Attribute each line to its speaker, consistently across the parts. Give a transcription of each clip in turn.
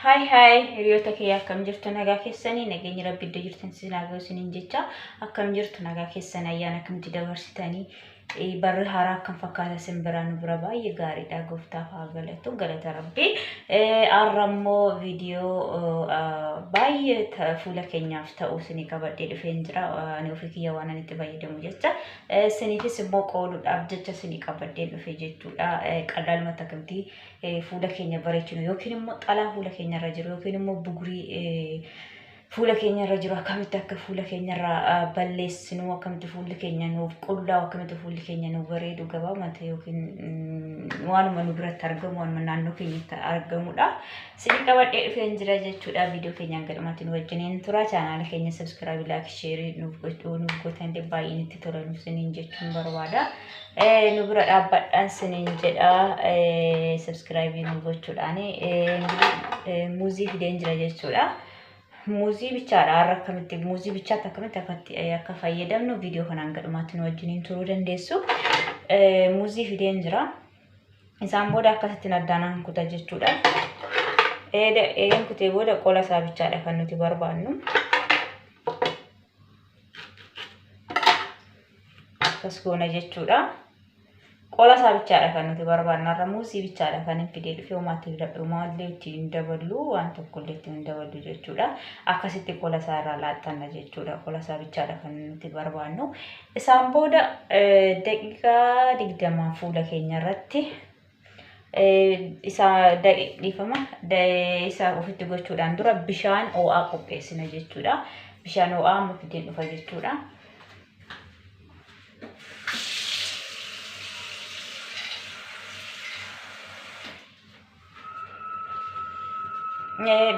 Speaker 1: Haay haay hiriyoota kee akkam jirtu nagaa keessanii nageenyi rabbi iddoo jirtan si nagaa isiniin jecha akkam jirtu nagaa keessan ayyaan akkamti dabarsitanii eh, barri haaraa akkam fakkaata isin biraa nu bira baay'ee gaariidha gooftaaf haa galatu galata rabbi Eh, har'a immoo viidiyoo eh, baay'ee ta- fuula keenyaaf ta'u isinii qabadhee dhufeen jira Eh, ani ofii kiyya waan ani itti fayyadamu jecha Isiniifis immoo qoodudhaaf jecha isinii qabaddeen dhufe jechuudha. Qallaaluma takamti fuula keenya bareechinu yookiin immoo xalaa fuula keenya irra jiru yookiin immoo bugurii fuula keenya irra jiru akkamitti akka fuula keenya irra balleessinu akkamitti fuulli keenya nuuf qullaa'u akkamitti fuulli keenya nuuf bareedu gabaabumatti yookiin waanuma nu biratti argamu waanuma naannoo keenyatti argamudha. Sini qabadhee dhufeen jira jechuudha. Viidiyoo keenyaan gadhumatti nu wajjiniin tura. Chaanaala keenya sabskraabii laak sheerii nuuf godhuu nuuf gootan baay'ee nutti tola nuuf siniin jechuun barbaada. Nu bira dhaabbadhaan siniin jedha sabskraabii nuuf gochuudhaan muuzii fideen jira jechuudha. Muuzii bichaadha har'a akkamitti muuzii bichaatti akkamitti akkatti akka fayyadamnu viidiyoo kanaan gadhumatti nu wajjiniin turuu dandeessu. Muuzii fideen jira. Isaan booda akkasittiin addaan nan kuta jechuudha. Eeda eegan kutee booda qola isaa bichaadha kan nuti barbaannu. Akkas goona jechuudha. Qola isaa bichaadha kan nuti barbaannu. Har'a muuzii bichaadha kan hin fidee dhufee homaatti filadhumaa illee itti hin daballu waan tokko illee itti hin daballu jechuudha. Akkasitti qola isaa irraa laaxxanna jechuudha. Qola isaa bichaadha kan nuti barbaannu. Isaan booda daqiiqaa digdama fuula keenya irratti isa dhiifama isa ofitti gochuudhaan dura bishaan ho'aa qopheessina jechuudha. Bishaan ho'aa amma fideen dhufa jechuudha.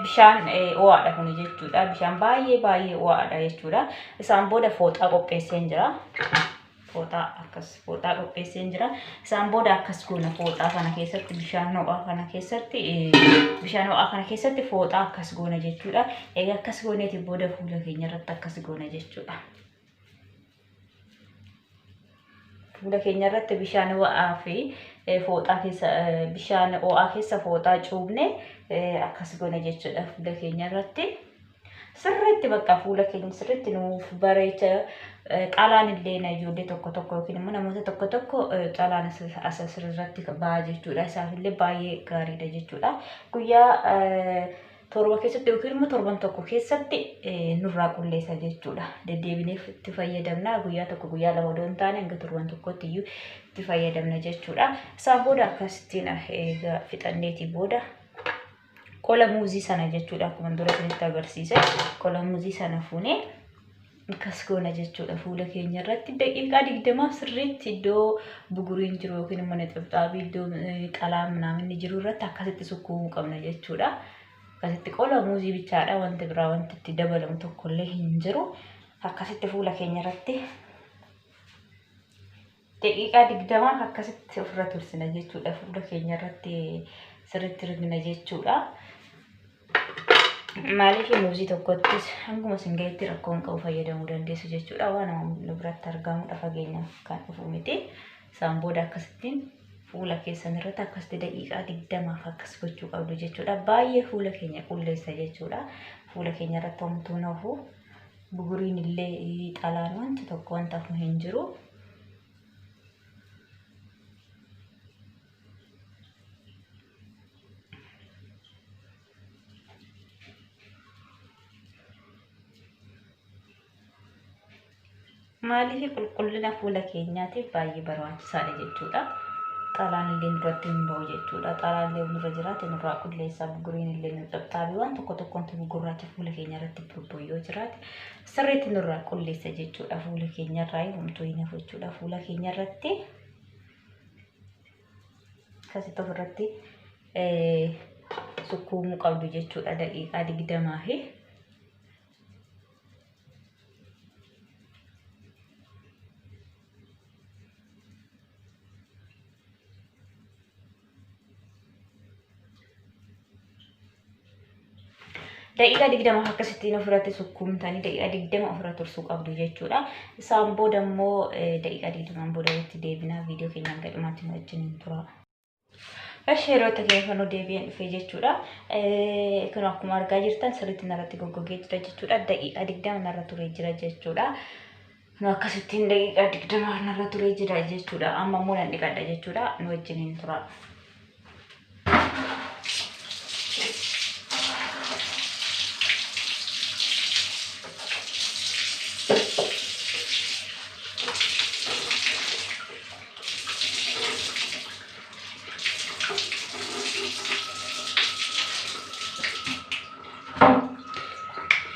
Speaker 1: bishaan ho'aadha kun jechuudha. Bishaan baay'ee baay'ee ho'aadha jechuudha. Isaan booda fooxaa qopheesseen jira. Fooxaa akkas fooxaa qopheesseen jira. Isaan booda akkas goona fooxaa kana keessatti bishaan ho'aa kana keessatti bishaan ho'aa kana keessatti fooxaa akkas goona jechuudha. Egaa akkas gooneeti booda fuula keenya irratti akkas goona jechuudha. Fuula keenya irratti bishaan ho'aa fi eh, fooxaa keessa eh, bishaan ho'aa keessa fooxaa cuubne eh, akkas goone jechuudha fuula keenya irratti. Sirriitti bakka fuula keenya sirriitti nuuf bareecha eh, qalaan illee na ijoollee tokko tokko yookiin immoo namoota tokko tokko eh, qalaan as as asirratti ba'a jechuudha. Isaaf illee baay'ee gaariidha jechuudha. Guyyaa eh, torba keessatti yookiin immoo torban tokko keessatti nurraa qulleessa jechuudha. Deddeebineef itti fayyadamna guyyaa tokko guyyaa lama odoo hin taane hanga torban tokkotti iyyuu itti fayyadamna jechuudha. Isaan booda akkasittiin egaa fixanneetii booda qola muuzii sana jechuudha akkuma dura isinitti agarsiise qola muuzii sana fuunee Akkas goona jechuudha fuula keenya irratti daqiiqaa digdamaaf sirriitti iddoo buguriin jiru yookiin immoo nixibxaabii iddoo qalaa minaaminni jiru irratti akkasitti sukkuumuu qabna jechuudha. Akkasitti qola muuzii bichaadha wanti biraa wanti itti dabalamu tokkollee hin jiru. Akkasitti fuula keenya irratti Daqiiqaa digdamaaf akkasitti ofirra tursina jechuudha. Fuula keenya irratti sirriitti rigna jechuudha. Maaliif muuzii tokkottis hanguma isin gahetti rakkoo hin qabu fayyadamuu dandeessu jechuudha. Waan nu biratti argamudha fageenyaaf kan dhufu miti. Isaan booda akkasittiin fuula keessan irratti akkasitti daqiiqaa digdamaaf akkas gochuu qabdu jechuudha. Baay'ee fuula keenya qulleessa jechuudha. Fuula keenya irratti homtuu hin hafu. Buguriin illee dhalaan wanti tokko wanta hafu hin jiru. Maaliif qulqullina fuula keenyaatiif baay'ee barbaachisaadha jechuudha. Xalaan illee nurratti hin ba'u jechuudha. Xalaan illee nurra jiraate nurraa qulleessa. Buguriin illee nu cabxaabi. Waan tokko tokko wanti gugurraacha fuula keenya irratti burbu'u yoo jiraate sirriitti nurraa qulleessa jechuudha. Fuula keenya irraa homtuu hin hafu jechuudha. Fuula keenya irratti akkasitti ofirratti sukkuumuu qabdu jechuudha. Daqiiqaa digdamaa fi daqiiqaa digdama akkasittiin ofirratti sukkuumtanii daqiiqaa digdama ofirra tursuu qabdu jechuudha. Isaan booda immoo daqiiqaa digdamaan booda walitti deebinaa viidiyoo keenyaan gadhumaatti nu wajjin tura. Eshi hiriyoota kee kan deebi'een dhufee jechuudha. Kun akkuma argaa jirtan sirriitti narratti goggogee jira jechuudha. Daqiiqaa digdama narra turee jira jechuudha. Nu akkasittiin daqiiqaa digdama narra turee jira jechuudha. Amma immoo nan dhiqadha jechuudha. Nu wajjin hin tura.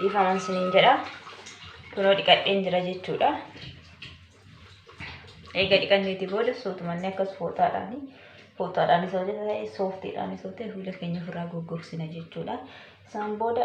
Speaker 1: dhiifaman siniin jedha kunoo dhiqadheen jira jechuudha eega dhiqanneeti booda suutumanne akkas fooxaadhaan fooxaadhaan isa hojjeta ta'e sooftiidhaan isa ta'e fuula keenya ofirraa goggogsina jechuudha isaan booda